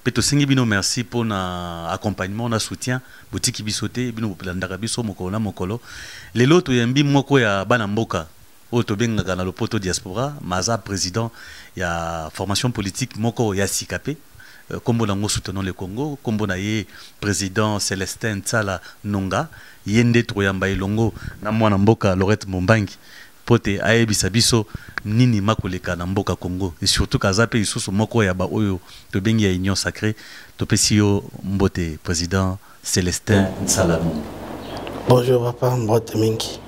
Pe tosengi bino merci po na accompagnement na soutien botiki biso te bino bolandaka biso mokolo na mokolo lelo toyambi moko ya bana mboka oyo tobengaka na lopoto diaspora ma aza président ya formation politique moko ya sika pe euh, kombo nango soutenons le congo kombo na ye président celestin nsala nonga ye nde tokoyamba elongo na mwana mboka lorette mombangi mpo te ayebisa biso nini makoleka na mboka Congo et surtout que aza mpe lisusu moko ya ba oyo tobengi ya union sacree. Topesi yo mbote president Celestin Nsala Numbi. Bonjour papa, mbote mingi.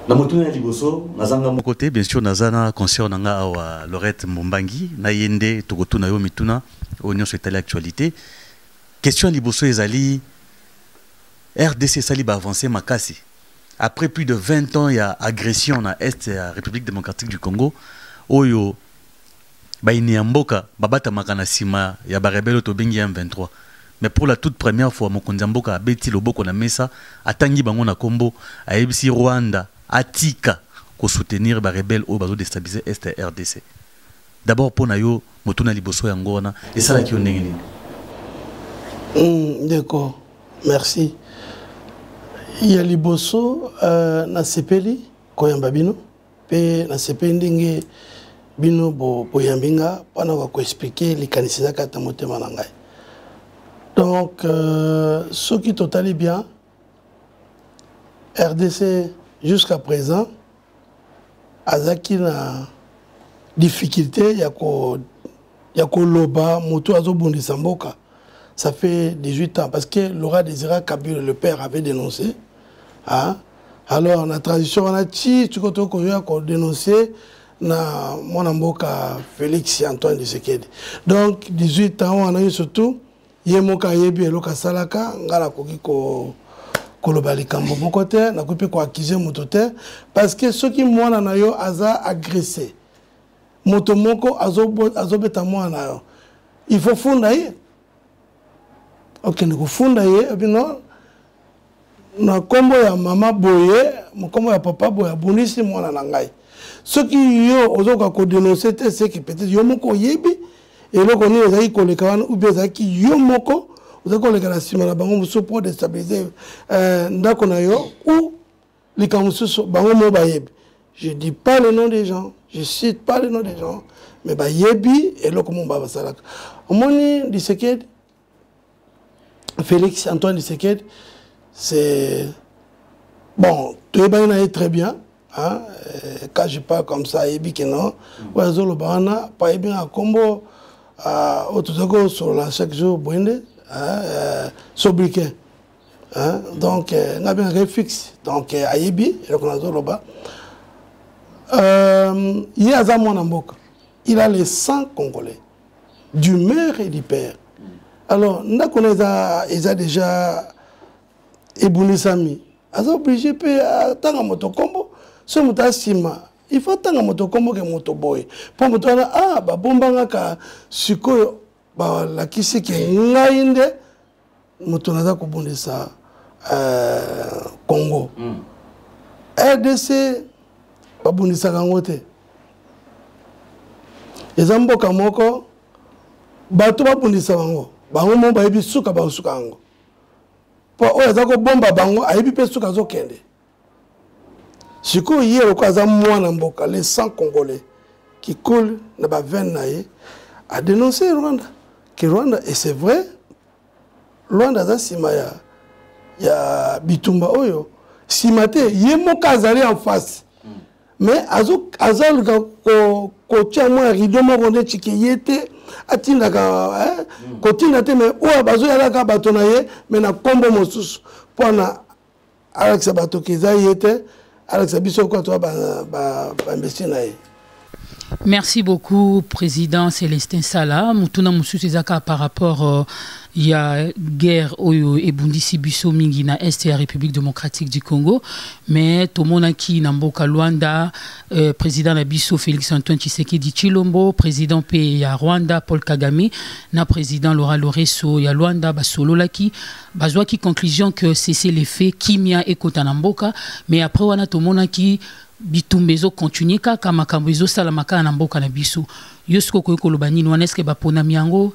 Na motuna ya liboso naza nga moko te, bien sur naza na conscience na nga awa Lorette Mbombangi na ye nde tokotuna yo mituna oyo nyonso etali actualité. Question ya liboso ezali RDC esali ba avancee makasi Après plus de 20 ans ya agression na est ya Republique democratique du Congo oyo bayini ya mboka babatamaka na nsima ya barebele oyo tobengi ya M23 mais pour la toute première fois mokonzi ya mboka abeti loboko na mesa atangi bango na nkombo ayebisi Rwanda atika kosoutenir barebele oyo bazodestabilise est ya RDC. D'abord mpo na yo motuna liboso yango wana esalaki yo ndenge nini? Mm, ndeko, merci. Ya liboso uh, nasepeli koyamba bino mpe nasepeli ndenge bino boyambi nga mpo na koexplike likanisi na kati na motema na ngai donc euh, soki totali bien rdc jusqu'à présent azalaki na difficulté ya ko ya koloba moto azobundisa mboka ça fait 18 ans parce que Laura Désira Kabila le père avait dénoncé hein? alors na transition wana ti tiko to koya ko dénoncer na mwana mboka Félix Antoine Tshisekedi donc 18 ans wana surtout ye moko ayebi eloko asalaka ngai nakoki ko koloba likambo moko te nakoki mpe koakize moto te parce que soki mwana na yo aza agresse moto moko azobeta mwana na yo il faut funda ye okende kofunda ye bino na kombo ya mama boye mokombo ya papa boye abundisi mwana na ngai soki yo ozokoka kodenonse te seki peut-être yo moko oyebi eloko nini ezalaki koleka wana ou bien ezalaki yo moko ozalaki koleka na nsima na bango mosusu mpo destabilise euh, ndako na yo ou likambo mosusu bango moko bayebi je dis pas le nom des gens je cite pas le nom des gens mais bayebi eloko moko basalaka omoni lisekedi Félix Antoine Tshisekedi c'est bon toyebani na ye très bien hein? Euh, quand je parle comme ça ayebi ke non mm. oyo azoloba wana po ayebi nga nkombo ah, oyo tozali kosolola chaque jour boye nde euh, sobriquet hein? donc euh, nga bengaka ye fixe donc ayebi eloko nazoloba ye aza mwana mboka il a le sang congolais du mère et du père alors ndako na eza eza déjà ebundisami aza oblige mpe atanga moto nkombo so moto asima il faut atanga moto nkombo ke moto boye mpo moto wana a ah, babombangaka sikoyo balakisi ke ngai nde moto naza kobundisa uh, congo mm. rdc babundisaka yango te eza mboka moko bato babundisa bango bango mo bayebi suka bakosuka yango mpo oyo aza kobomba bango ayebi mpe suka azokende sikoyo ye lokola aza mwana mboka le sang congolais qui coule na bavene na ye adenonce rwanda ke rwanda et c'est vrai rwanda aza nsima ya, ya bitumba oyo nsima te ye moko azali en face mais azoluka kotya mwa rido moko nde tike ye te atindaka kotinda te mais oyo bazoyalaka bato na ye mais na nkombo mosusu mpo na alakisa bato ke eza ye te alakisa biso kwa toa bambesi ba, ba na ye merci beaucoup président célestin sala motuna mosusu eza kaka par rapport euh, ya guerre oyo ebundisi biso mingi na est ya république démocratique du congo mais tomonaki na mboka luanda euh, président na biso félix antoine tshisekedi tshilombo président mpe ya rwanda paul kagame na président laura loreso ya luanda basololaki bazwaki conclusion que cessez le feu kimia ekota na mboka mais après wana tomonaki bitumba ezokontinue kaka makambo ezosalama kaka na mboka na biso yo soki okoki koloba nini wana eske baponami yango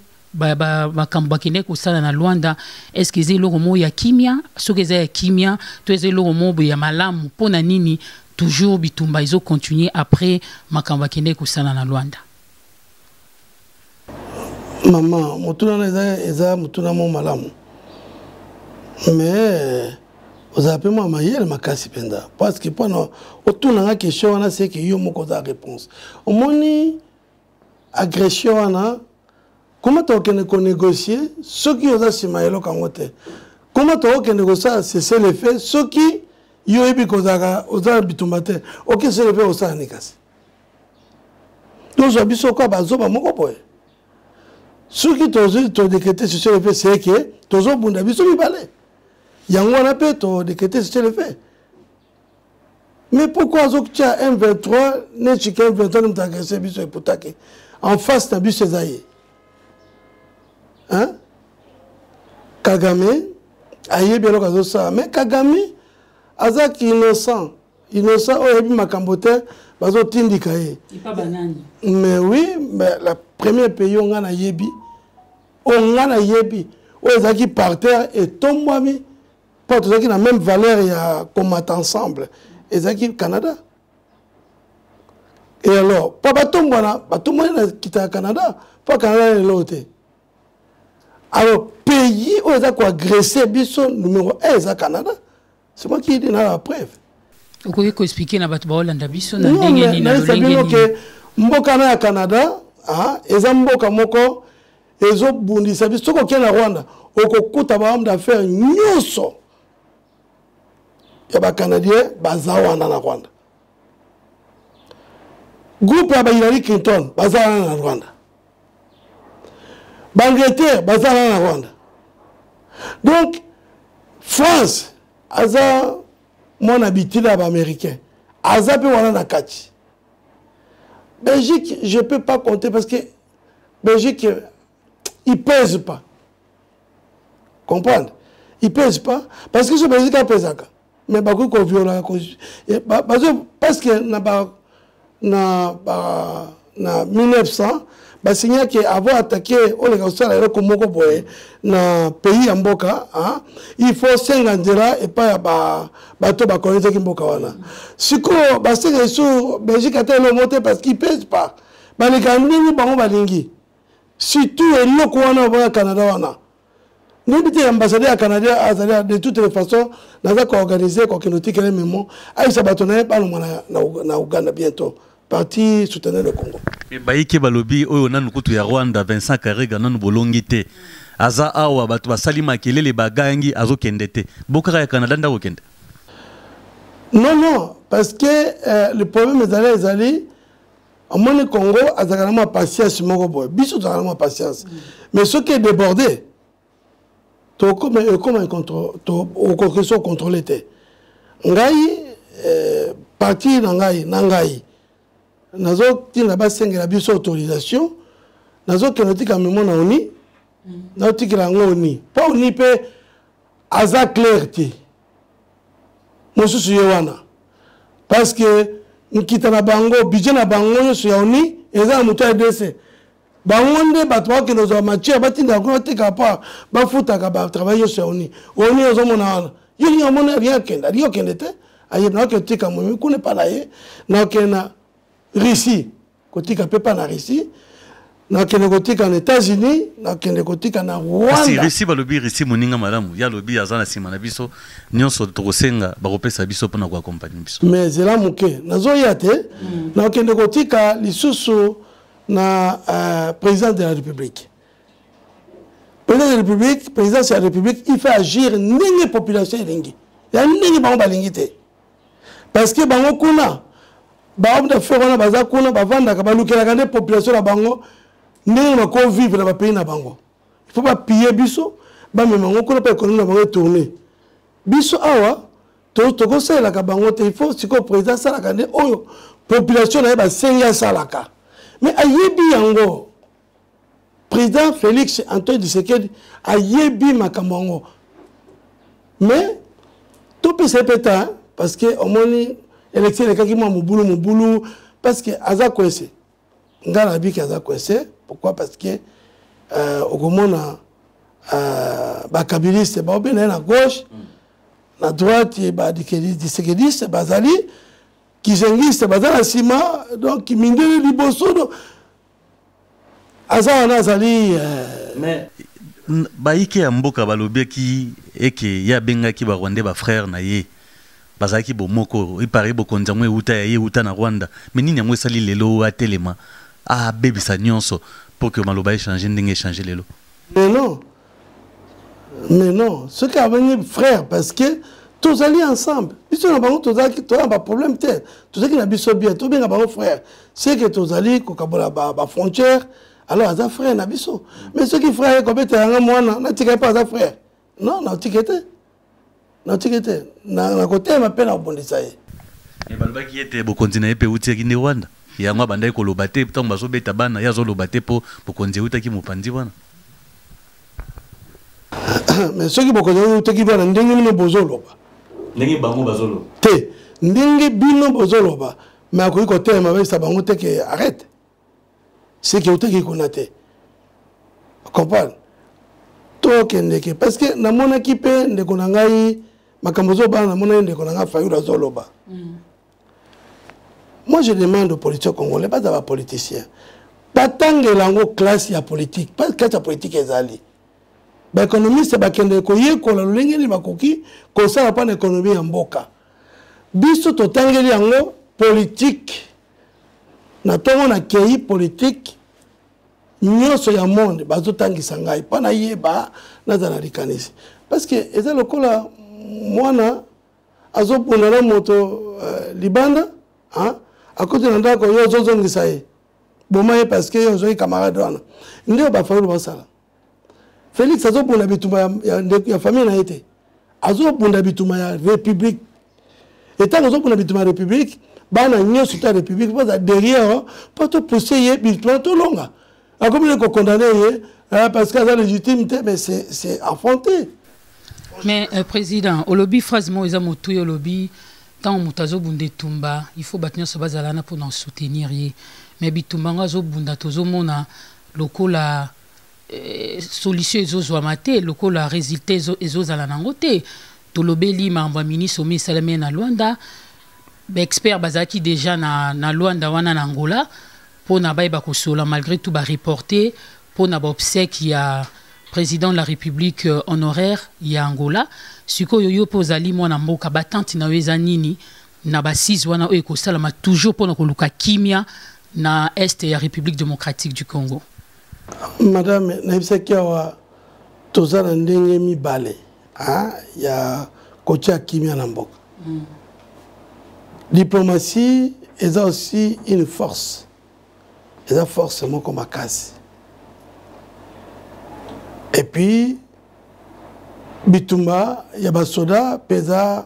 makambo bakendaki kosala na lwanda eske eza eloko moko ya kimia soki eza ya kimia to eza eloko moko boye ya malamu mpo na nini toujours bitumba ezokontinue après makambo bakendaki kosala na lwanda mama motuna na eza, eza motuna mo malamu mais ozala mpe mwa mayele makasi mpenza parce que mpona otuna nga question wana seke yo moko oza réponse omoni agression wana koma tokokende konégocie soki oza nsima ya eloko yango te koma tokokende kosala cese le fait soki yo oyebi kozalaka oza na bitumba te okesele mpe kosala nini kasi tozwa biso kwa bazoba moko boye soki todekete sur le fait c'est que tozobunda biso mibale yango wana mpe todekete sur le fait mais pourquoi azotia m23 nechika m23 ne moto agrese biso eputaki en face na biso eza ye kagame ayebi eloko azosala mais kagame aza innocent innocent oyo ayebi makambo te bazotindika ye mais oui mais la première pays oyo ngai nayebi oyo ngai nayebi oyo ezalaki parterre etombwami mpo tozalaki na même valeur ya komata ensemble ezalaki canada e alors mpo batombwana batombwani na kita ya canada mpo canada lelo te alors pays oyo eza koagresse biso numero 1 eza canada c'est moi qui dit na la preuve okoki koexplike na bato baolanda biso na ndenge nini na lolenge nini mboka na ya canada ah, eza mboka moko ezobundisa biso soki okei na rwanda okokuta bahomme d'affaire nyonso ya bacanadien baza wana na rwanda groupe ya bahilary clinton baza wana na rwanda baangleterre baza na na rwanda donc france aza mwana bitila ya baaméricain aza mpe wana na kati belgique je peux pas compter parce que belgique il pèse pas comprendre il pèse pas parce que so belgique apesaka mais bakoki koviola bazo parce que na ba na ba na 1900 basinya ke avant attaqué oleka kosala eloko moko boye na pays ya mboka il faut senga nzela epai ya bato bakolonizaki mboka wana sikoyo basenga esu belgique ata elongo te parce qu'il pèse pas baleka ndenge bango balingi surtout eloko wana obana canada wana nayebi te ambassadeur ya canada azali de toute les façon naza koorganize kokende otikele memo ayebisa bato na ye balongwa na uganda bientôt parti soutenir le congo eh, bayike balobi oyo nanu kutu ya rwanda vincent karega nanu bolongi te aza awa bato basali makelele bagangi azokende te bokaka ya canada nde akokende non non parce que euh, le problème ezali ezali omoni congo azalaka na mwa patience moko boye biso tozalaka na mwa patience mm. mais soki edeborde tokoma ekoma okoki so contrôle te ngai eh, parti na ngai na ngai nazotinda basengela biso autorisation nazokende otika memo na oni mm. naotikela yango oni mpo oni mpe aza claire te mosusu ye wana parce que nkita na bango budget na bango nyonso ya oni eza na moto ya rdc bango nde bato bakokende kozwa matière batindaka kuna bateka part bafutaka batravail nyonso ya oni oni ozomona wana yo lingi omona alingi akende alingi okende te aye nakokende tika momi kuna epa na ye nakokende na russie kotika pepa na russie nakende kotika na états-unis nakende kotika na rwandarussie balobi russie moninga malamu ye alobi aza na nsima na biso nyonso tokosenga bakopesa biso mpona koakompagne biso mais zela moke nazoya te mm. nakende kotika lisusu na uh, président de la république président de la république présidence ya république il faut agir ndenge population elingi ya ndenge bango balingi te parce que bango kuna bahomme d'affaire wana baza kuna bavandaka balukelaka nde population na bango ndenge bako vivre na bapays na bango il faut bapille biso bamema yango kuna mpo ekonomi na bango etourne biso awa tokosalelaka bango te il faut sikoyo président asalaka nde oyo population na ye basengi asalaka mais ayebi yango président félix antoine tshisekedi ayebi makambo yango mais topesa ye mpe ta parce que omoni élection elekaki mwa mobulu mobulu parce que aza coince ngai nabiki aza coince pourquoi parce que euh, okomona euh, bakabiliste baobe na ye na gauche mm. na droite badisekediste bazali kizengiste baza na nsima donc mindele liboso aza wana azali euh, baike ya mboka balobaki eke ye abengaki barwandais bafrère na ye bazalaki bomoko epare bokonzi yango euta ya ye euta na rwanda me nini yango esali lelo oyo atelema abebisa nyonso mpo ke maloba echange ndenge echange lelo lelo mais non soki abengi frère parce que tozali ensemble biso na bango tozalaki toza na baproblème te tozalaki na biso bien tobenga bango frère seke tozali kokabola bafrontière alors aza frère na biso mais soki frère ye kobeta yanga mwana natika ye mpo aza frère non natika te natiki te nakotelema mpe nakobundisa ye eh, balobaki ete bokonzi na ye mpe eutiaki nde rwanda yango abandaki koloba te ntango bazobeta bana ye azoloba te mpo bokonzi eutaki mopanzi wana mais soki bokonzi yango eutaki rwanda ndenge bino bozoloba ndenge bango bazoloba te ndenge bino bozoloba mais akoki kotelema bayebisa bango te ke arrete seke oteki kuna te comprendre tokendeke parce que namonaki mpe ndeko na ngai makambo ozobana namonaki ndeko na ngai fayulu azoloba mm. moi je demande aux politiciens congolais baza bapoliticien batangela yango classe ya politique parce classe ya politique ezali baekonomiste bakendeke koyekola lolenge nini bakoki kosala mpo na ekonomi ya mboka biso totangeli yango politike na ntongo nakei politike nyonso ya monde bazotangisa ngai mpo nayeba nazala na likanisi parce que eza lokola mwana azobunda na moto uh, libanda hein? akoti na ndako yo ozozongisa ye boma ye parce que yo ozwaki camarade wana nde oyo bafayulu basala Felix azobunda bitumba ya, ya, ya, ya famille na ye te azobunda bitumba ya république etango azobunda bitumba ya république bana nyonso ta république baza derrière mpo topousse ye bitumba tolonga akomi ne kokondane ye eh, parce que aza légitime te mais c'est affronté mais euh, président olobi phrase moko eza motu ye olobi ntango moto azobunda etumba il faut bato nyonso bazala na mpona soutenir ye mais bitumba yango azobunda tozomona lokola eh, solution ezozwama te lokola resultat ezozala nango te tolobeli makambo ya ministre omi esalami na luanda baexpert bazalaki déjà na, na luanda wana na angola mpo na bayeba kosola malgré tout bareporte mpo na baobsèque ya président de la république euh, honoraire ya angola sikoyo yo mpe ozali mwana mboka batante na yo eza nini na bassise wana oyo ekosalama toujours mpo na koluka kimia na est ya république démocratique du congo madame nayebisaki awa toza na ndenge mibale hein, ya kotia kimia na mboka mm. diplomatie eza aussi une force eza force moko makasi epuis bitumba ya basoda mpe eza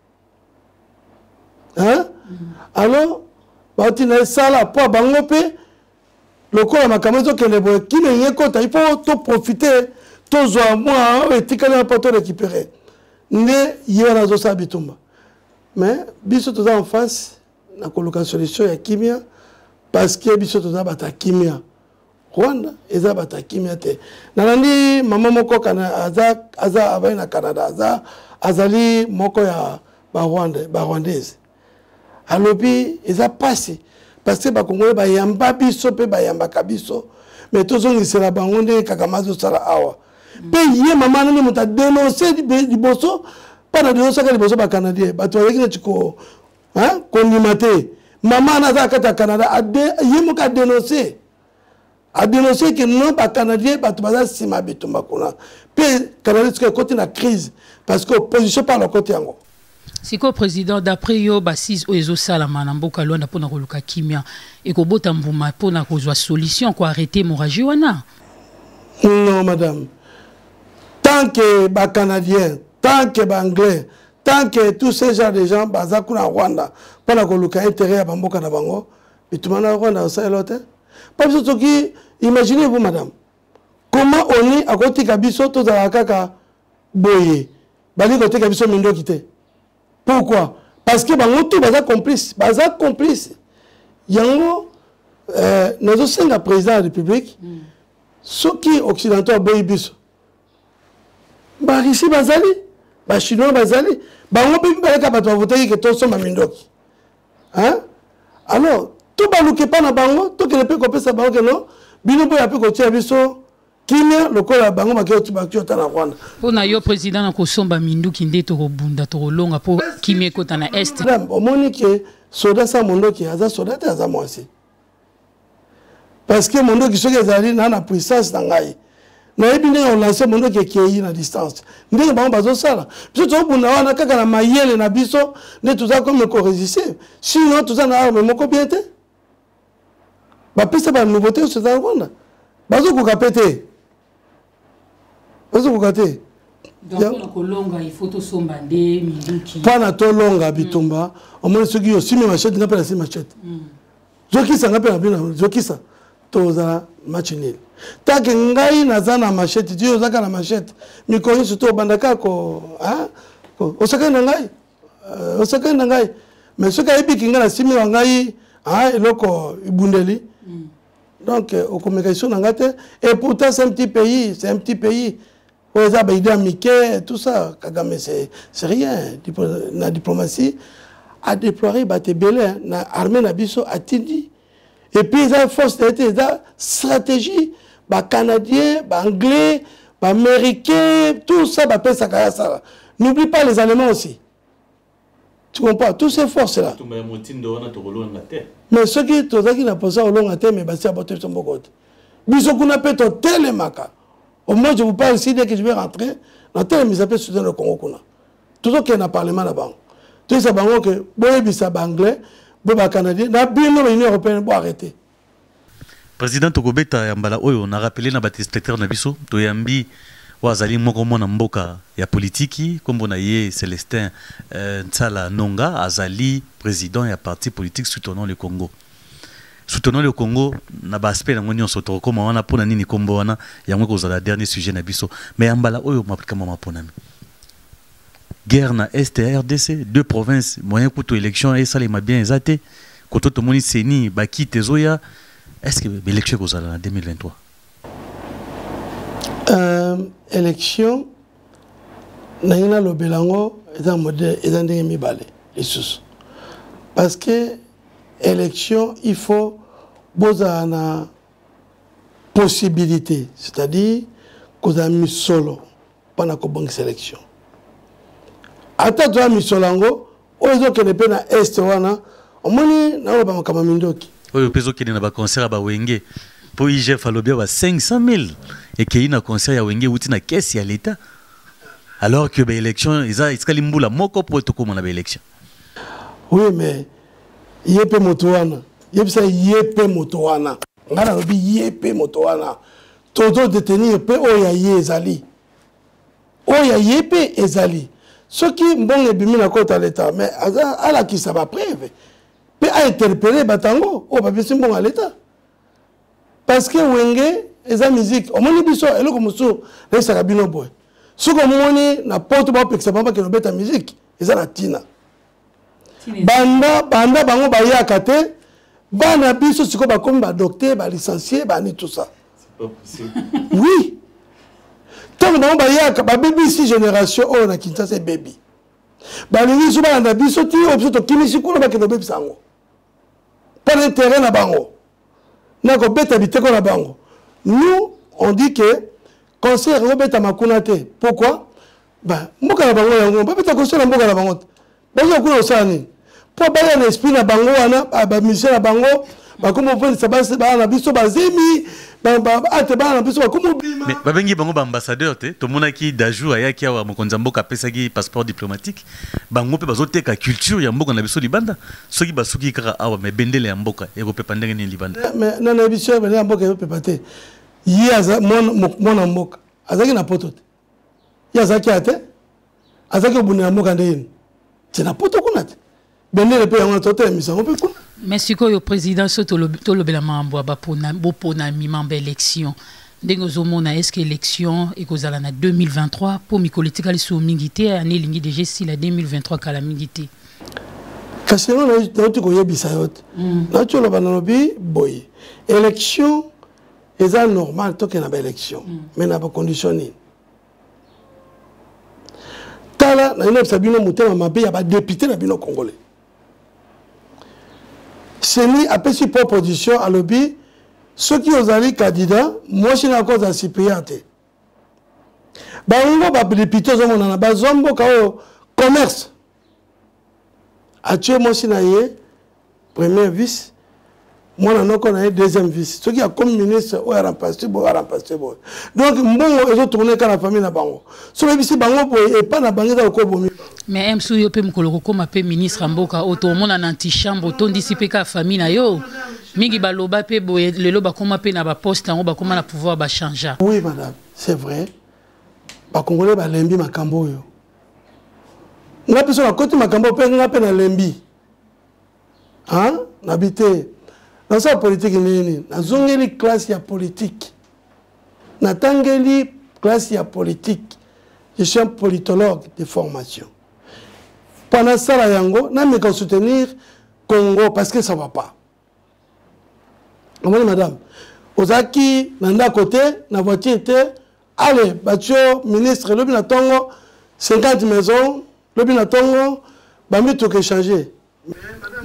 hein? alors bauti na esala mpo bango mpe lokola makambo ezokende boye kino eye ekota ifo toprofite tozwa mwa oyo etikali na mpo to récupere nde ye wana azosala bitumba mais biso toza en face na koluka solution ya kimia parce que biso toza bato ya kimia rwanda eza bato ya kimia te nalandi mama moko aza, aza abali na canada aza azali moko ya barwande barwandaise alobi eza mpasi parce que bakongole bayamba biso mpe bayambaka biso me tozongisela bango ndenge kakama azosala awa mpe ye mama nani moto adenonse liboso mpo na denosaka liboso bacanadien bato bazalaki neti hein kondima te mama wana aza kati ya canada ye moko adenonse adenonse ke non bacanadien bato baza nsima ya bitumba kuna mpe canada soki ekoti na crise parce que opposition mpe alokoti yango sikoyo président d'après yo basise oyo ezosalama na mboka lwanda mpo na koluka kimia ekobota mbuma mpo na kozwa solution koarrete hémorragie wana non madame tant que bacanadien tant que baanglais tant que tous ces gens de gens baza kuna rwanda mpo na koluka intérêt ya bamboka na bango bituma na rwanda osalelo te mpo biso soki imaginez vous madame comment oni akotika biso tozalaka kaka boye balingi kotika biso mindoki te pourquoi parce que bango tout baza complice baza complice yango euh, nazosenga président ya république mm. soki occidentaux aboyi biso barisi bazali bachinois bazali bango mpe mibalaka bato bavotaki ke tosomba mindoki alors tobaluka epai na bango tokende mpe kopesa bango keno bino boya mpe kotia biso kimia lokola bango bakiota na rwanda mpo na yo président na kosomba minduki nde tokobunda tokolonga mpo kimia ekota na est omoni ke soda sa mondoki aza soda te aza mwasi parce que mondoki soki ezali na na puissance na ngai nayebi ndenge olance mondoki ekei na distance ndenge bango bazosala biso tozobunda wana kaka na mayele na biso nde toza kome koresiste sinon toza na arme moko bien te bapesa banouveauté nyonso eza na rwanda bazokoka mpe te ozokoka te mpana tolonga bitumba omoni soki osimi machete nga mpe nasimi machete mm. zokisa nga mpe na bino zokisa tozala match nil take ngai naza na machete ti ozaka na machete mikolo nyonso to obandaka ko osakani na ngai euh, osakani na ngai mais soki ayebiki ngai nasimi wa ngai eloko ebundeli mm. donc euh, okomeka iso na nga te et pourtant c'est un petit pays c'est un petit pays oyo eza baide ya mike tout ça kagame c'est rien Diplo, na diplomatie adéploire bato ebele na armée na biso atindi epuis eza force na ye te eza stratégie bacanadien baanglais baaméricain tout ça bapesaka ya sala n'oublie pas les allemands aussi tu comprends tous ces forces là mais soki tozalaki na mposa olonga te mais basi abato biso mboko te biso kuna mpe totelemaka au moins je vous parle ici dès que je vais rentrer natelemisa mpe soutien le congo kuna tozokende na parlement na bango toyebisa bango ke boyebisa baanglais bo bacanadien na bino na union européenne boarrete President tokobeta ya mbala oyo na rappeler na ba telespectateurs na biso toyambi oyo azali moko mwana mboka ya politiki nkombo na ye Celestin euh, Nsala Nonga azali president ya parti politique Soutenons le Congo soutenons le Congo na ba aspect yango nyonso tokokoma wana mpo na nini nkombo wana yango ekozala dernier sujet na biso mais ya mbala oyo makambo maponami guerre na est ya rdc deux provinces moyen kutu élection esalema bien eza te koto tomoni seni bakite ezoya est ce que baélection ekozala na 2023 euh, élection ndenge nalobela yango eza modele eza ndenge mibale lisusu parce que élection il faut bozala na possibilité c'est-à-dire kozala misolo mpo na kobongisa election ata toya misolo yango oyo ezokende mpe na est wana omoni naoloba makambo mindoki oyo mpe ezokende na baconcert ya bawenge mpo igf alobi ba 500 000 ekei na concert ya wenge euti na kesi ya leta alors que baélection eza etikali mbula moko mpo tokóma na baélection oui mais ye mpe moto wana yebisa ye mpe moto wana ngai nalobi ye mpe moto wana tozo detenir mpe oyo ya ye ezali oyo ya ye mpe ezali soki mbongo ebimi na kota leta mais aza alakisa bapreve mpe ainterpele bato yango oyo bapesi mbongo ya leta parce que wenge eza miziki omoni biso eloko mosusu nayebisaka bino boye soki omoni na poto baopekisa bango bakende obeta miziki eza na ntina banda banda bango bayaka te bana biso sikoyo bakomi badokter balicencie bani tout ça oui ntango bango bayaka babebisi génération oyo oh, na kinshasa ebebi balingi biso balanda biso ti oyo biso tokimisi kuna bakende obebisa yango mpo na intérêt na bango na kobeta biteko na bango nous on dit que concert ekobetama kuna te pourquoi ba mboka na bango yango babeta koso na mboka na bango te bazoya kuna kosala nini mpo baya na esprit na bango wana bamisie na bango bakomi ofandisa basi bana na biso bazemi ate bana na biso bakomi obima babengi bango baambassadeur te tomonaki dajour ayaki awa mokonzi ya mboka apesaki passeport diplomatique bango mpe bazoteka culture ya mboka na biso libanda soki basuki kaka awa me bendele ya mboka ekopepa ndenge nini libanda na na biso bendele ya mboka ekopepa te ye aza mwana mboka azalaki na poto te ye azalaki ya te azalaki kobundela mboka nde yini te na poto kuna te bendele mpe yango na totelemisa yango mpe kuna me sikoyo président so tolobela mambo ya boponami mambo ya élection ndenge ozomona est ce que élection ekozala na 2023 mpo mikolo etikali soo mingi te ane elingi deja esila 2023 kala mingi te kasi yango nauti koyebisa yo te mm. nauti oloba nalobi boye élection eza normal tokende na baélection mm. mais na bacondition nini tala naye nayebisa bino motema mabe ya badepute na bino congolais seni apesi proposition alobi soki ozali candidat mwasi na yako ozala supérieur te bango badepute ozomonana bazwa mboka oyo commerce atie mwasi na ye première vice mwana noko na ye deuxième vice soki akomi ministre oyo arampaste boye arampaste boye donc mbongo ezotourne eka na famille na bango soki oyebisi bango boye epai na bango eza kokobomi mais eh, msu yo mpe mokolo kokóma mpe ministre ya mboka oyo tomona na antichambre otondisi mpe kaka famille na yo mingi baloba mpe boye lelo bakóma mpe na baposte yango bakóma na pouvoir bachangea oui madame c'est vrai bakongole balembi makambo oyo nga mpe so nakoti makambo mpe nga mpe nalembi nabi te nasala politiki ndenge nini nazongeli classe ya politiki natangeli classe ya politiki je suis un politologue de formation mpo nasala yango nameka soutenir congo parce que ça va pas omoni madame ozalaki na ndako te na voiture te ale batio ministre lobi na ntongo 50 maison lobi na ntongo bamituka echange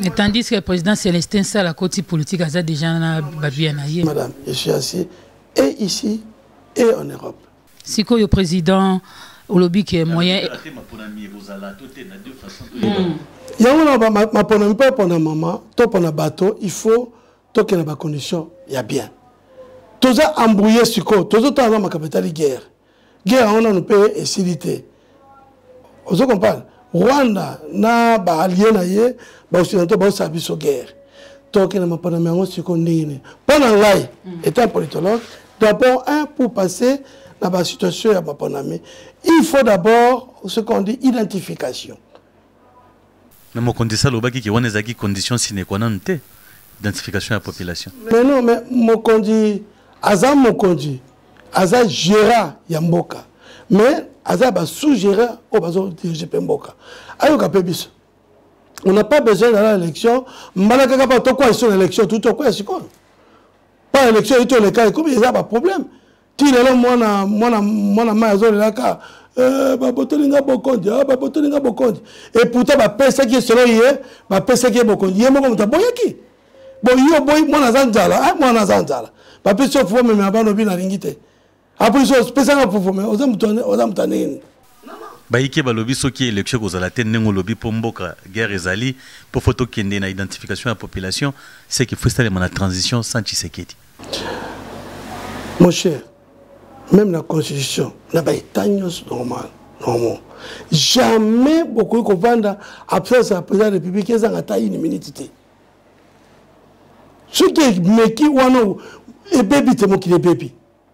Mais tandis que le président Célestin Sala Koti politique a déjà na babia na ye. Madame, je suis assis et ici et en Europe. sikoyo president olobi ke moyen hmm. yango na maponami mpo epona mama to mpona bato il faut tokende bacondition ya bien toza embrouille sikoyo tozotala na makambo etali guerre guerre yango nano mpe esili te ozo comprendre rwanda na baalie na ye baoccidental baosala biso guerre tokende maponami yango sikoyo ndenge nini mpo na ngai mm. etant politologue d'abord un pour passer na basituation ya maponami il faut d'abord ce qu'on dit identification Mais mokonzi sa lobaki ke wana ezalaki condition sine qua non te identification ya population. Mais non mais mokonzi aza mokonzi aza gérant ya mboka mais aza ba sous gérant oyo bazo dirige mpe mboka ayoka mpe biso on n'a pas besoin d'aller à l'élection mbala kaka mpo tokwea biso na élection tuti okwea sikoyo mpo élection ito oleka ekomi eza baproblème ti lelo mwana mwana mwana mai azolelaka eh, babotoli nga bokonzi ah, babotoli nga bokonzi eputa bapesaki ye solo ye bapesaki ye bokonzi ye moko moto aboyaki boyi oboyi mwana aza nzala eh, mwana aza nzala bapesi yo fufu meme abana obi nalingi te apolisi opesanga fufu me oza moto ya ndenge nini bayike balobi soki election ekozala te ndenge olobi mpo mboka guerre ezali mpo fo tokende na identification ya population seke fo esalema na transition sans tshisekedi mon cher même na constitution na baetat nyonso normal normal jamais bokoki kovanda absence ya président ya république ezanga ata une minute te soki emeki wana ebebi te mokili ebebi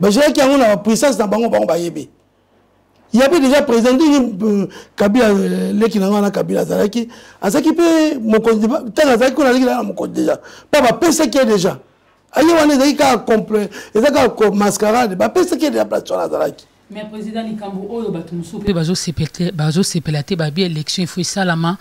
bazalaki yango na bapuissance na bango bango bayebi yape déjà président ndenge euh, kabila euh, leki na ngai wana kabila azalaki azalaki mpe mokonzi ntango azalaki kuna azalaki na mokonzi déjà mpo bapesaki ye déjà aye wana ezalaki kaka eza kaka mascarade bapesaki ye déjà place wana azalaki mais président likambo oyo bato mosusu mpe bazosepela te babi élection ifo esalama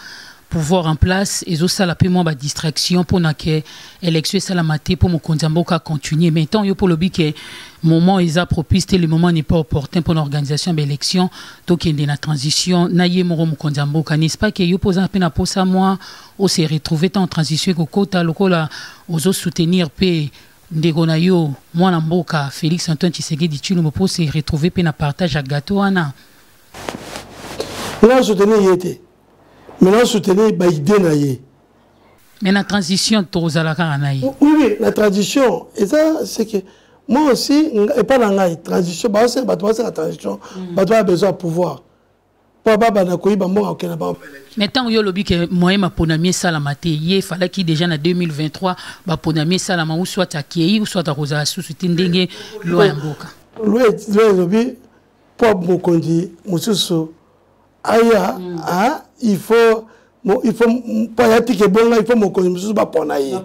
pouvoir en place ezosala mpe mwa badistraction mpona ke élection esalama te mpo mokonzi ya mboka continue mais ntango yo mpo olobi ke moment eza propice te le moment n'est pas opportun mpona organisation ya baélection tokende na transition na ye moko mokonzi ya mboka n'est-ce pas ke yo mpo oza mpe na mposa mwa ose retrouve ntango transition ekokota lokola ozosoutenir mpe Ndeko na yo mwana mboka Felix Antoine Tshisekedi Tshilombo mpo se retrouver mpe na partage ya gateau wana. Nga soutenir ye te mais na soutenir ba idée na ye. Mais na transition tokozala kaka na ye. Oui oui na transition eza c'est que moi aussi epai na ngai transition baosenga bato basenga transition mm. bato baya besoin ya pouvoir mpo ababana koyiba mbongo akokende na bango mais ntango yo olobi ke moyen maponami esalama te ye efalaki déjà na 2023 baponami esalama ou soit akei ou soit akozala susu te ndenge lwa ya mboka lwa elobi mpo mokonzi mosusu aya mm. il faut Bon, il faut payati ke bonga il faut mokonzi mosusu bapona ye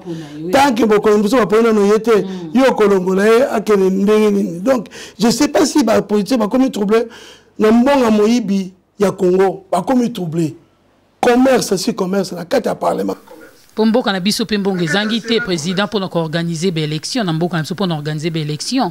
tant que mokonzi mosusu baponi nano ye te mm. yo okolongola ye akende ndenge nini donc je sais pas si bapoliticien bakomi trouble na mbonga moyibi ya congo bakomi trouble commerce si commerce na kati ya parlement mpo mboka na biso mpe mbongo ezangi te président mpo na koorganize baélection na mboka na biso mpo na organize baélection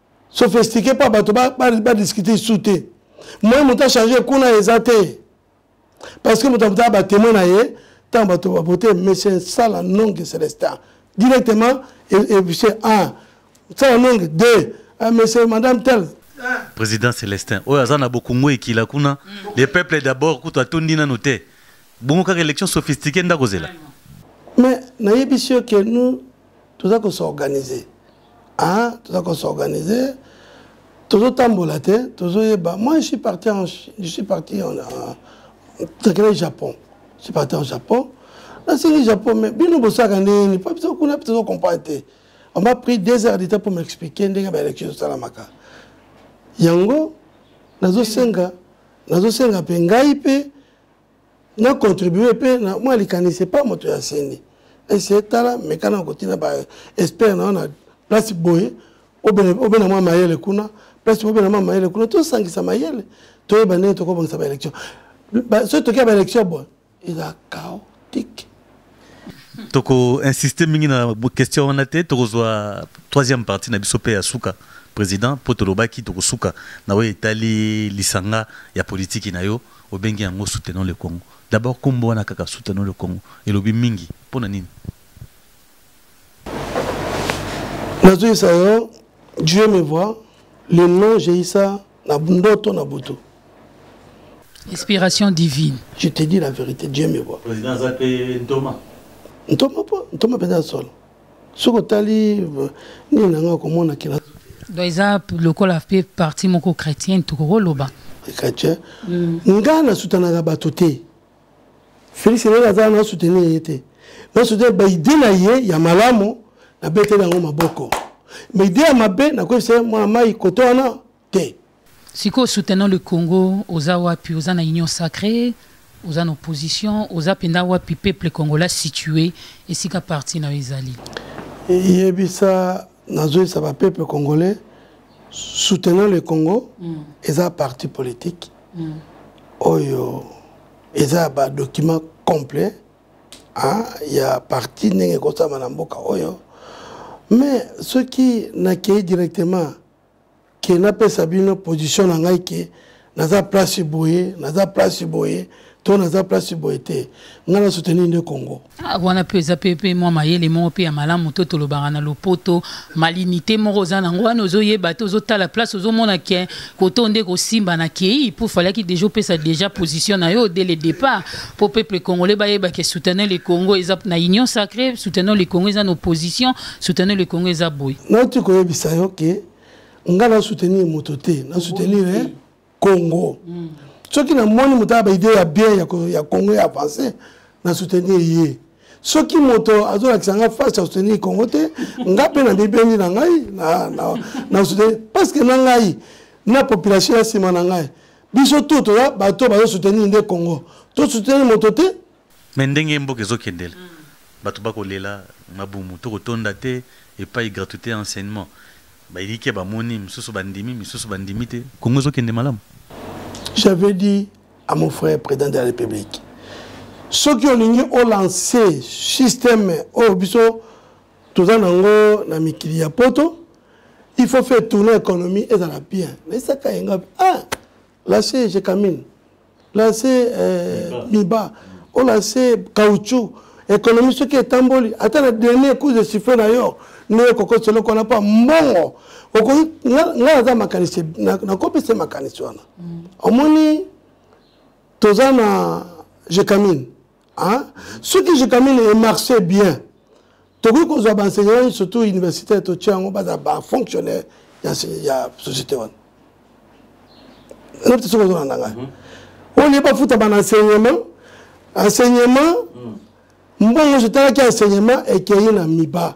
sophistiqué mpo bato badiscute ba, ba isu te moye moto achange kuna eza te parce que moto amotala batemoin na ye ntango bato babote monsieur sala nonge celestin directement monsieur un sala nonge deux ah, monsieur madame tel président célestin oyo aza na bokungu ekila kuna mm. le peuple d'abord kutu atondi nano te bongo kaka élection sophistiqué nde akozela mais nayebisi yo ke nous toza ko s'organiser ah toza ko s'organiser tozotambola te tozoyeba moi je suis parti en je suis parti en takela japon je suis parti en japon nasengi japon mais bino bosalaka ndenge nini mpo biso kuna mpe tozo comprendre te on m'a pris deux heures de temps pour m'expliquer ndenge baélection ezosalamaka yango nazosenga nazosenga mpe ngai mpe na contribue mpe na mwa likanisi epa moto ya seni ese tala meka na kotina ba expert na yo na place boye obena mwa mayele kuna place obena mwa mayele kuna tosangisa mayele toyeba ndenge tokobongisa baélection soki tokia baélection boye eza chaotique toko insister mingi na question wana te tokozwa troisième partie na biso mpe ya suka président mpo tolobaki tokosuka na oyo etali lisanga ya politiki na yo obengi yango soutenons le congo d'abord nkombo wana kaka soutenons le congo elobi mingi mpo na nini nazwisa yo dieu me voit le nom jeisa na ndoto na butu inspiration divine je te dis la vérité dieu me voit président aza mpe ntoma ntoma mpo ntoma mpenza ya solo soki otali euh, nini na ngai komona kila donc eza lokola mpe parti moko chrétienne tokokoloba chrétien mm. ngai nasutanaka bato te Félix Hélène aza na soutenir ye te na soutenir ba idée na ye ya malamu na beteli yango maboko mais idée ya mabe nakoyebisa mwana mai koto wana te sikoyo soutenant le congo oza wapi oza na union sacrée oza na opposition oza mpenza wapi peuple congolais situé esika parti na yo ezali yebisa nazoyebisa bapeuple congolais soutenant le congo mm. eza parti politique mm. oyo eza ya badocument complet hein, ya parti ndenge ekosama na mboka oyo mais soki nakei directement ke napesa bino position na ngai ke naza place boye naza place boye to naza place boye te ngai na soutenir nde congo ah, wana mpe eza mpe mpe mwa mayele moko mpe ya malamu to tolobaka na lopoto malinite moko oza nango wana ozoyeba te ozotala place ozomona ke koto nde kosimba na kei mpo falaki deja opesa deja position na yo dès le départ mpo peuple congolais bayeba ke soutenir le congo eza na union sacrée soutenir le congo eza na opposition soutenir le congo eza boye nauti koyebisa yo ke ngai na soutenir moto te na soutenir congo mm. soki namoni moto aya baide ya bien ya, ya congo ya avance na soutenir ye soki moto azolakisa nga face ya soutenir congo te nga mpe na bibendi na ngai na, na, na soutenir parce que na ngai na population ya nsima na ngai biso tout toza bato bazosoutenir nde congo tosoutenir moto te mais ndenge mboka ezokendela mm. bato bakolela mabumu tokotonda te epai gratuité ya enseignement bayike bamoni misusu bandimi misusu bandimi te kongo ezokende malamu j'avais dit à mon frère président de la république soki olingi olancer système oyo biso toza nango na mikili ya poto il faut faire tourner économie ezala bien naisaka yenga ah lâche je camine lase eh, miba olase caoutchouc ekonomi soki etamboli ata na dernier coup de siffle na yo nde okokosa eloko wana mpo mbongo ngai naza makanisi nakopesa makanisi wana mm. omoni toza na jecamine Hein? soki jekamine emarche bien tokoki kozwa baenseignant nyonso to universitaire totya yango baza bafonctionnaire ya société wana nayebi te soki ozolanda ngai oyo nayebi bafuta bana enseignement enseignement mbongo nyonso etalaki enseignement ekei na miba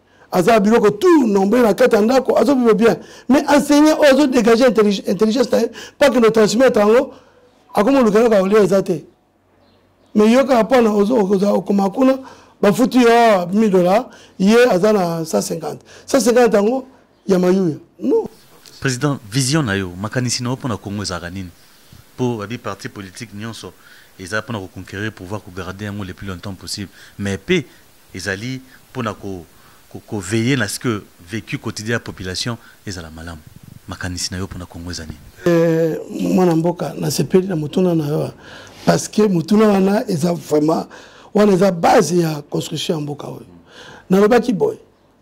aza na biloko tout nombre na kati ya ndako azobiba bien mais enseignant oyo azodégage intelligence na ye pake no transmettre yango akomoluka eloko ya kolia eza te mais yo kaka mpona okoma kuna bafuti yo 1000 dollar ye aza na 150 150 yango ya mayuya non président vision na yo makanisi na yo mpo na congo ezalaka nini mpo babi parti politique nyonso eza mpo na koconquérir pouvoir kogarde yango le plus longtemps possible mais mpe ezali mpo na ko, ko, ko veiller na ce que vécu quotidien ya population ezala malamu makanisi na yo mpo na congo eza nini eh, mwana mboka nasepeli na motuna na yo parce que motuna wana eza vraiment wana eza base ya construction ya mboka oyo nalobaki boye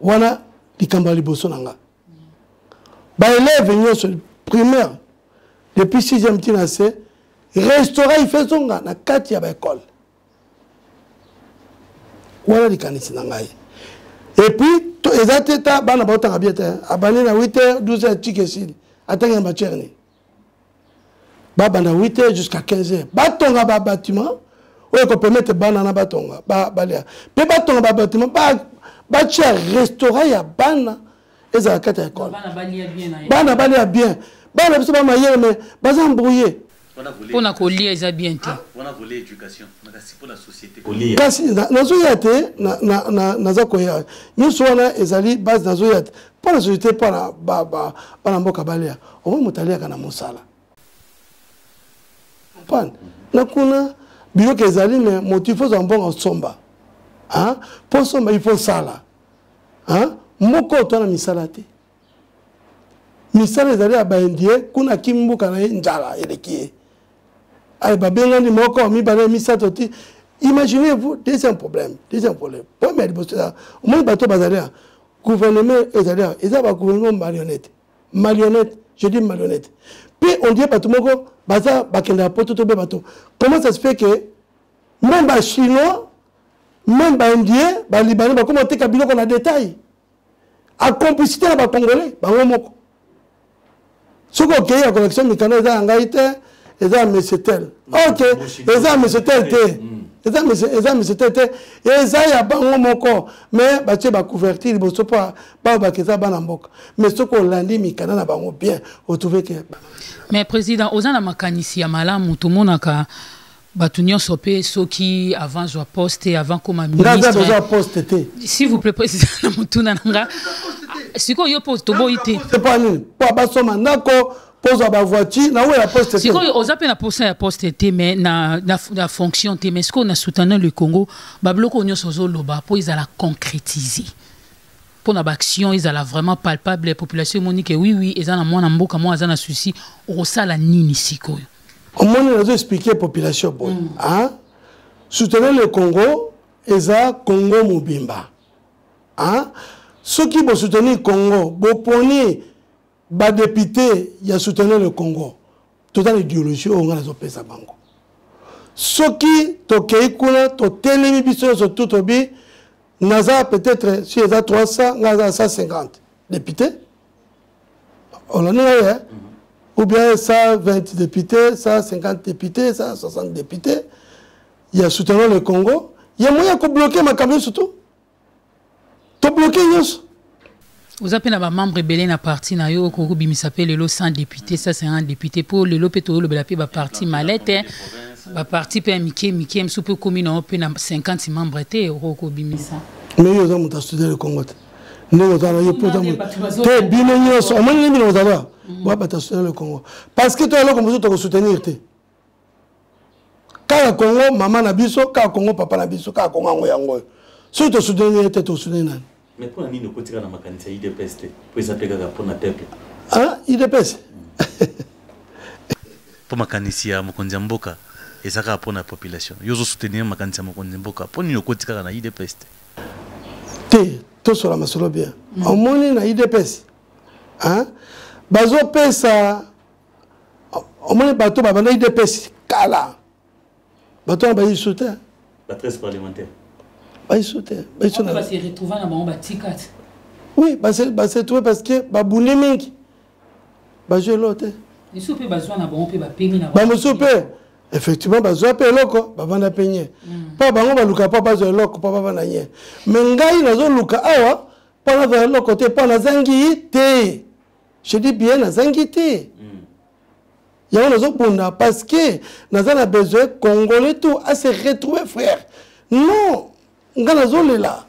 wana likambo ya liboso na nga baeleve nyonso primaire depuis 6e ti na se restaurant ife ezonga na kati ya baekole wana likanisi na ngai epuis eza te ta bana baotanga bie te abandi na 8 heure 12 heure tikesili atanga ya matière nini babanda 8 heures jusqu'à 15 heures batonga babatiment oyo ekopermettre bana na batonga balya mpe batonga babatiment batya restaurant ya bana ezala kati ya ekole bana balya bien bana biso bamayele me baza embrouille mpo na kolia eza bien te kasi nazoya te naza koya nyonso wana ezali base nazoya te mpo na société mpo na bana mboka balia omoi moto aliaka na mosala pan na kuna biyoka ezali me moto ifo ozwa mbongo osomba mpo osomba ifo osala moko oto na misala te misala ezali ya baindie kuna akimi mboka na ye njala eleki ye aye babengani moko mibale misato ti imaginez vous deuxième problème deuxième problème problème ya liboso omoni bato bazali gouvernement ezali awa eza ba gouvernement marionnette marionnette je dis marionnette mpe on dirait bato moko baza bakendaka poto to mpe bato comment ça se fait que même bachinois même baindien balibanais bakoma oteka biloko na détail a complicité na bacongolais bango moko soki okei ya connexion mikanda eza ya ngai te eza ya mesetel ok eza ya mesetel te eza ya mesetel te eza ya bango moko me batie bacouverture liboso mpo bao bake eza bana mboka me soki olandi mikanda na bango bien otrouveke mais président oza na makanisi ya malamu tomonaka batu nyonso pe soki avant zwa poste avant koma ministre poste te s'il vous plaît président na mutuna nanga sikoyo yo po toboyi te c'est pas nini po basoma ndako pozwa bavoiture na oyo ya poste sikoyo oza mpe na posa ya poste te mais na, na, na fonction te mais sikoyo na soutenant le congo babiloko nyonso ozoloba mpo ezala concrétise mpo na baaction ezala vraiment palpable population emoni ke oui oui eza na mwana mboka moko aza na souci okosala nini sikoyo omoni nazo expliquer population boye mm. hein? soutenir le congo eza congo mobimba hein? soki bosoutenir congo boponi badepute ya soutenir le congo toza na ideologie oyo ngai nazopesa bango soki tokei kuna totelemi biso nyonso tu tobi naza peut-être si eza 300 ngai aza 150 depute olandi ngai eh? ou bien 120 députés 150 députés 160 députés ya soutenant le congo ya moyen ya kobloke makambo nyonso to tobloke nyonso oza mpe na bamembre ebele na parti na yo okoki kobimisa mpe lelo 100 député 150 député mpo lelo mpe toyolobela mpe baparti malete baparti mpe ya mike mike mosusu mpe okomi na yo mpe na 50 membre te okoki kobimisa mais yo oza moto ya soutenir le congo te ndenge oza na yo mpo te bino nyonso omoni ndenge bino ozala mm. babata soutenir le congo parce que to eloko mosusu tokosoutenir te kaka congo mama na biso kaka congo papa na biso kaka congo yango yango oyo soki tosoutenir te tosoutenir nani mais mpo na nini okotika na makanisi ya idps te mpo eza mpe kaka mpo na peuple ah idps mpo makanisi ya mokonzi ya mboka eza kaka mpo na population yo ozosoutenir makanisi ya mokonzi mboka mpo nini okoti kaka na idps te te tosola masolo bien mm. omoni na idps bazopesa omoni bato babanda idps kala bato wana bayi lisusu te bayi lisusu te oui basetrouve parce que babundi mingi bazwi eloko te misusu mpe bazwa na bango mpe bapemi na bamosusu mpe effectivement bazwa mpe eloko bavanda mpe nye mpo mm. bango baluka mpo bazwa eloko mpo bavanda nye me ngai nazoluka awa mpo nazwa eloko te mpo nazangi te je dis bien nazangi te mm. yango nazobunda parce que naza na besoin congolais tout ase retrouver frère non ngai nazolela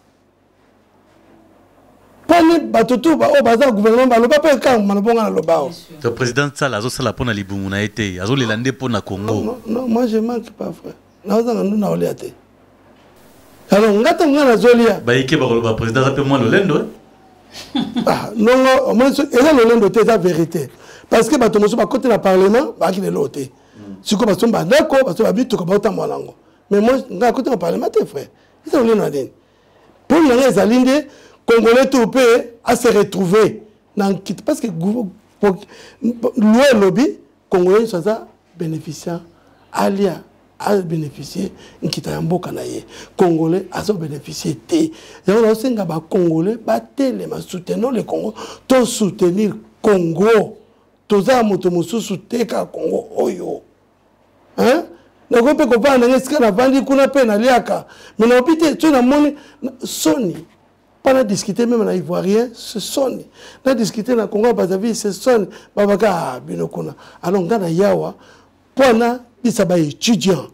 pone bato tu baoyo baza na gouvernement baloba mpe kaka maloba nga naloba o to président sala azosala mpo na libumu na ye te azolela nde mpo na congo non moi je manque pas vrai naozanga ndu naolia te alors nga ntango nga nazolia bayike bakoloba président aza mpe mwa lolendo eh? ah, nongo omoni eza lolendo te eza vérité parce que bato mosusu bakoti na parlement baaki lelo te hmm. sikoyo basomba ndako basomba bituka baotambola nango mais moi nga akoti na parlement te frère eza lolendo na nini Pole na ngai ezali nde congolais to mpe a se retrouver na nkita parce que loi elobi congolais nyonso aza bénéficiant alia abénéficie nkita ya mboka na ye congolais azobénéficie te yango naosenga bacongolais batelema soutenons le congo to soutenir congo toza ya moto mosusu te kaka congo oyo hein nakoki mpe kopana ndenge esika navandi kuna mpe naliaka me naobi te soki namoni soni mpa na discute meme na ivoirien se soni na discute na congo ya bazavi se soni babaka ah, bino kuna alors ngai na yawa mpo na bisa baétudiant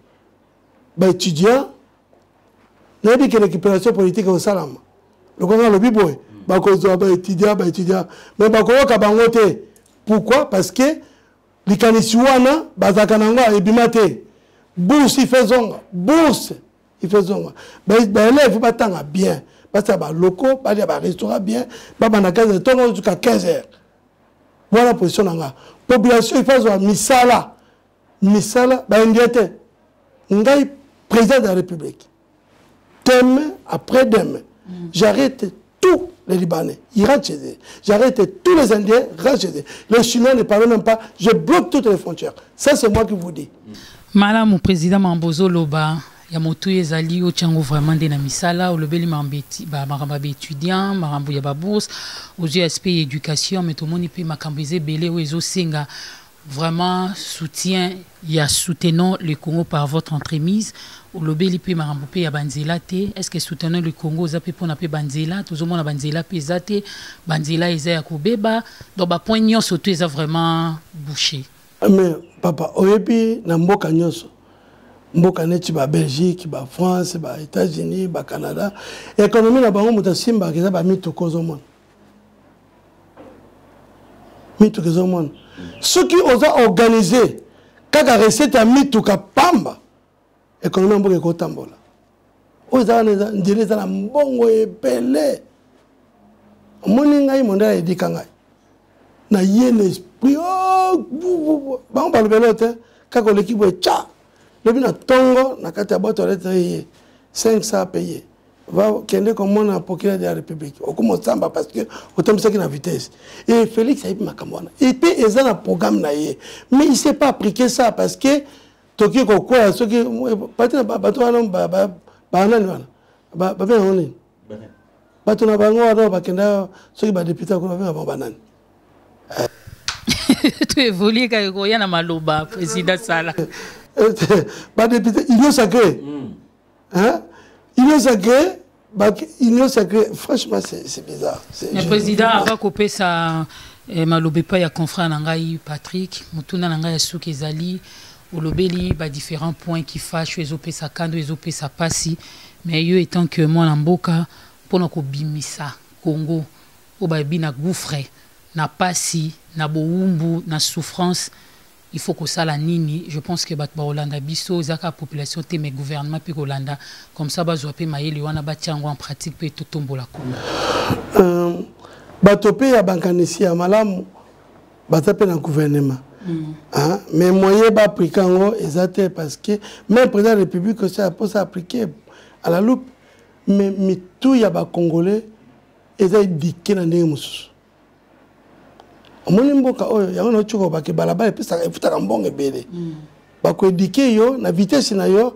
baétudiant nayebi ke récupération politique ekosalama lokola alobi boye bakozwa baétudiant baétudiant mais bakoyoka bango te pourquoi parce que likanisi wana bazalaka na yango ebima te bourse ife ezonga bourse ife ezonga baelève batanga bien basala baloko balia barestaurant bien babanda 15 heures ntongo ozuka 15 heures wana position na nga population ife azwa misala misala baindien te ngai président de la république demain après demain mm. j'arrête tout les Libanais, ils rentrent chez eux. J'arrête tous les Indiens, rentrent chez eux. Les Chinois ne parlent même pas, je bloque toutes les frontières. Ça, c'est moi qui vous dis. Madame le président Mambozo Loba, ya motu ezali otya yango vraiment nde na misala olobeli makambo ya baétudiant makambo ya babourse ozwi aspect ya éducation mais tomoni mpe makambo eza ebele oyo ezosenga Vraiment soutien ya soutenons le Congo par votre entremise olobeli pe makambo pe ya banzela te est ce que soutenons le Congo oza pe pona pe banzela tozomona banzela pe eza te banzela eza ya kobeba donc ba point nyonso to eza vraiment bouché mais papa oyebi na mboka nyonso mboka neti ba belgique ba france ba états-unis ba canada économie na bango moto asimbaka eza bamituka ozomona mituka ezomona soki oza organise kaka recette ya mituka pamba ekonomi ya mboka ekotambola oyo eza wana nzela eza na mbongo ebele omoni ngai mondela edika ngai na ye na esprit oh, bango balobela te kaka oleki boye ca lobi na ntongo na kati ya boto alete ye 500 paye kende komona procureur de la république okomosamba parce que otambisaki na vitesse e félix ayebi makambo wana epe eza na programme na ye mais il sait pas appliquer ça parce que toki kokwea soki eh, pati na bato wana banani wana babe yango nini bato na bango wana bakenda soki badepute kuna babe na bango banani eh. to évolue kaka koya na maloba président sala eh, badepute union sacré mm. hein union sacrée union sacrée franchement c'est bizarre mais président ava kopesa eh, maloba epai ya confrère na ngai patrick motuna na ngai ya suki ezali olobeli badifférents points qui fâche oyo ezopesa kando ezopesa mpasi mais yo étant que mwana mboka mpo na kobimisa congo oyo bayebi na gouffre na mpasi na bowumbu na souffrance Il faut kosala nini? Je pense que batu bakolanda biso eza kaka population te mais gouvernement pe kolanda comme ça bazwa pe mayele wana batia yango en pratique pe totombola kuna. Euh, bato pe ya bankanisi ya malamu baza pe na gouvernement Mm. Hein? mais moyen baaplike yango eza te parce que même président de république osi aposa aplike à la loupe mais mitu ya bacongolais eza edike na ndenge mosusu omoni mboka oyo yango nauti koloba ke balabala epesaka efutaka mbongo ebele mm. bakoedike yo na vitese na yo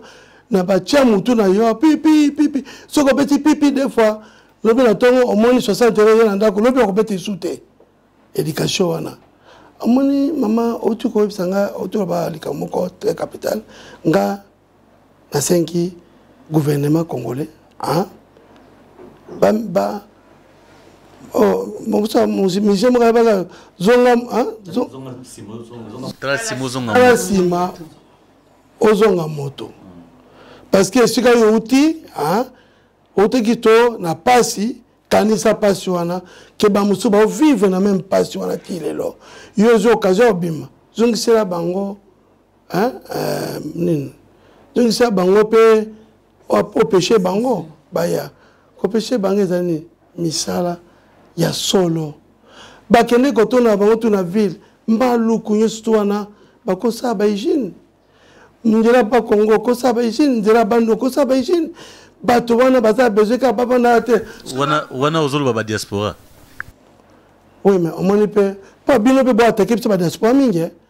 na batya motu na yo pipi pipi soki obeti pipi de fois lobi na ntongo omoni 60 euro ye na ndako lobi okobeta esu te éducation wana omoni mama outi koyebisa nga outi koloba likambo moko très capital nga nasengi gouvernement congolais hein? ba, ba Oh, musicien moko ayebaka zonga tala nsima ozonga moto parce que esika yo outi outeki to na mpasi kanisa mpasi wana ke bamosusu baovivre na meme mpasi wana ti lelo yo ozwi occasion obima zongisela bango hein euh, nini zongisa bango mpe opeshe bango baya kopeshe bango ezali nini misala ya solo bakende kotonda bango tu na ville mbaluku nyonso tu wana bakosala bahygiene nzela ba congo okosala bahygiene nzela bando okosala bahygiene bato wana baza besoin kaka bavandaka te wana ozoloba badiaspora oui mais omoni mpe mpo bino mpe boatake biso badiaspora mingi eh?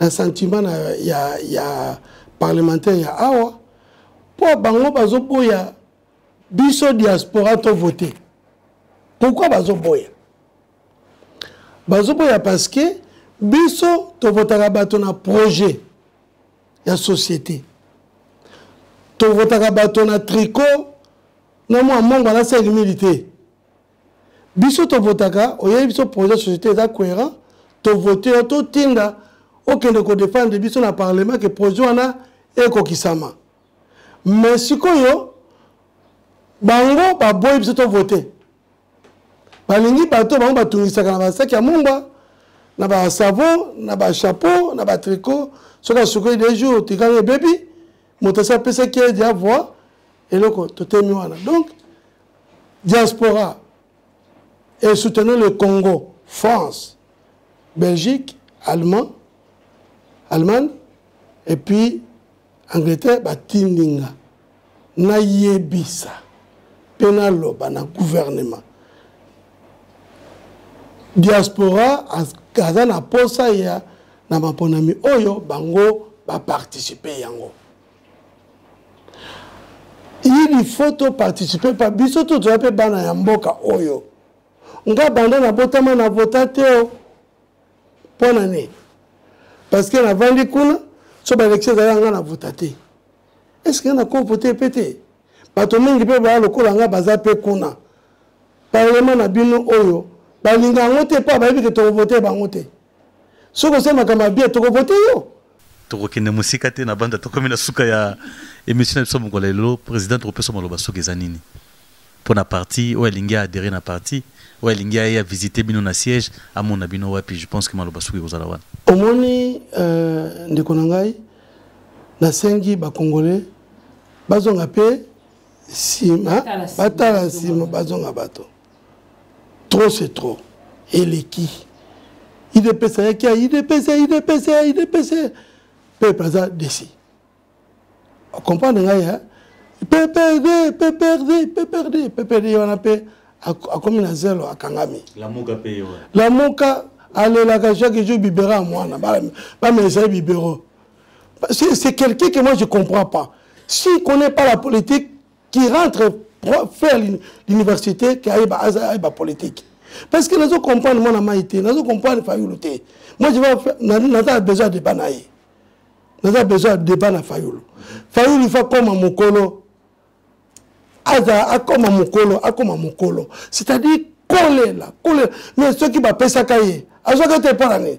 na sentiment na ya, ya parlementaire ya awa mpo bango bazoboya biso diaspora to vote pourkui bazoboya bazoboya parce que biso tovotaka bato na projet ya société tovotaka bato na tricot na mwa mongo alasali mili te biso tovotaka oyebi biso projet société eza cohérent tovote yo totinda okende kodefendre biso na parlement ke projet wana ekokisama mais sikoyo bango baboyi biso tovote balingi bato bango batungisaka na basaki ya mungwa na basavon na bachapeau na batricot soki asukoli de jour otikali ebebi moto asi apesaki ye dia voi eloko totemi wana donc Diaspora et soutenons le Congo, France, Belgique, Allemand, Allemagne et puis Angleterre batindi nga nayebisa mpe naloba na gouvernement diaspora aza na posa ya na maponami oyo bango baparticipe yango il faut to participer pa biso to toza mpe bana ya mboka oyo nga banda nabotama na vota te o mpo na nini parce que navandi kuna so balekisi ezali yanga na vota te est ce que nakopo te mpe te bato mingi mpe baya lokola nga baza mpe kuna parlema na bino oyo balinga yango te mpo bayebi ke tokovote bango te soki osali makambo ya bien tokovote yo tokokende mosika te na banda tokomi na suka ya émission na biso mokolo ya lelo président tokopesa maloba soki eza nini mpo na parti oyo alingi aadere na parti oyo alingi aye avisite bino na siège amona bino wapi je pense que maloba soki ekozala wana omoni euh, ndeko na ngai nasengi bacongolais bazonga mpe nsima batala nsima bazonga bato trop c'est trop eleki idps ayaki ya idps ya idps ya idps peuple aza desi okomprendre ngai ya pprd pprd pprd pprd wana mpe akomi na zelo akangami lamuka alelaka chaque jour bibera ya mwana bamesa ye bibero c'est quelqu'un que moi je comprends pas s'il connaît pas la politique qui rentre faire l'université qui ayeba ayeba politique parce que nazo comprendre mwana mai te nazo comprendre fayulu te moi je vais naza besoin débat na ye naza besoin débat na fayulu fayulu ifa koma mokolo aza akoma mokolo akoma mokolo c'est-à-dire kolela kolela mais soki bapesaka ye azwaka te mpo na nini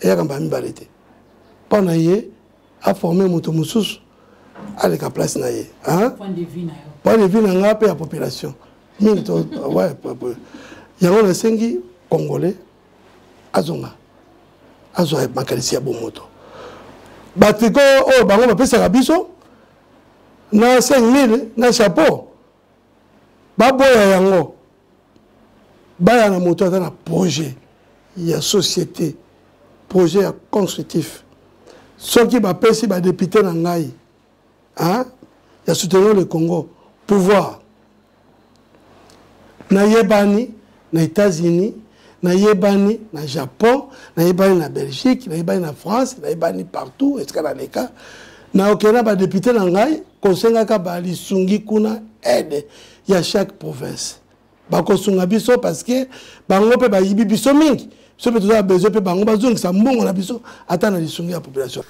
eyaka mbala mibale te mpo na ye aforme moto mosusu aleka place na ye point de vue na ngai mpe ya population mingi yango nasengi congolais azonga azwa makanisi ya bomoto batriko oyo bango bapesaka biso na 5000 na chapeau baboya yango baya na moto aza na projet ya société projet ya constructif soki bapesi badepute na ngai hein, ya soutenir le congo pouvoir nayebani na Etats-Unis, na yebani na Japon, na yebani na Belgique, na yebani na France, na yebani partout esika na leka. Na okenda okay, ba député na ngai kosengaka ba lisungi kuna aide ya chaque province. Bakosunga biso parce que bango pe bayibi biso mingi. Biso pe tozala besoin pe bango bazongisa mbongo na biso ata na lisungi ya population.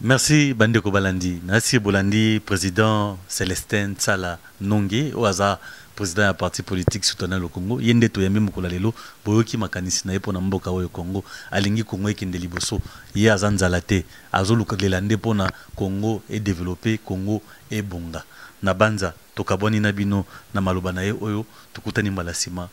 Merci ba ndeko balandi nasi bolandi president Celestin Nsala Nonge oyo aza president ya parti politique Citoyens le Congo ye nde toyambi mokolo ya lelo boyoki makanisi na ye pona mboka oyo Congo alingi Congo ekende liboso ye aza nzala te azolukalela nde pona Congo e developper Congo ebonga nabanza tokabwani na bino na maloba na ye oyo tokutani mbala sima.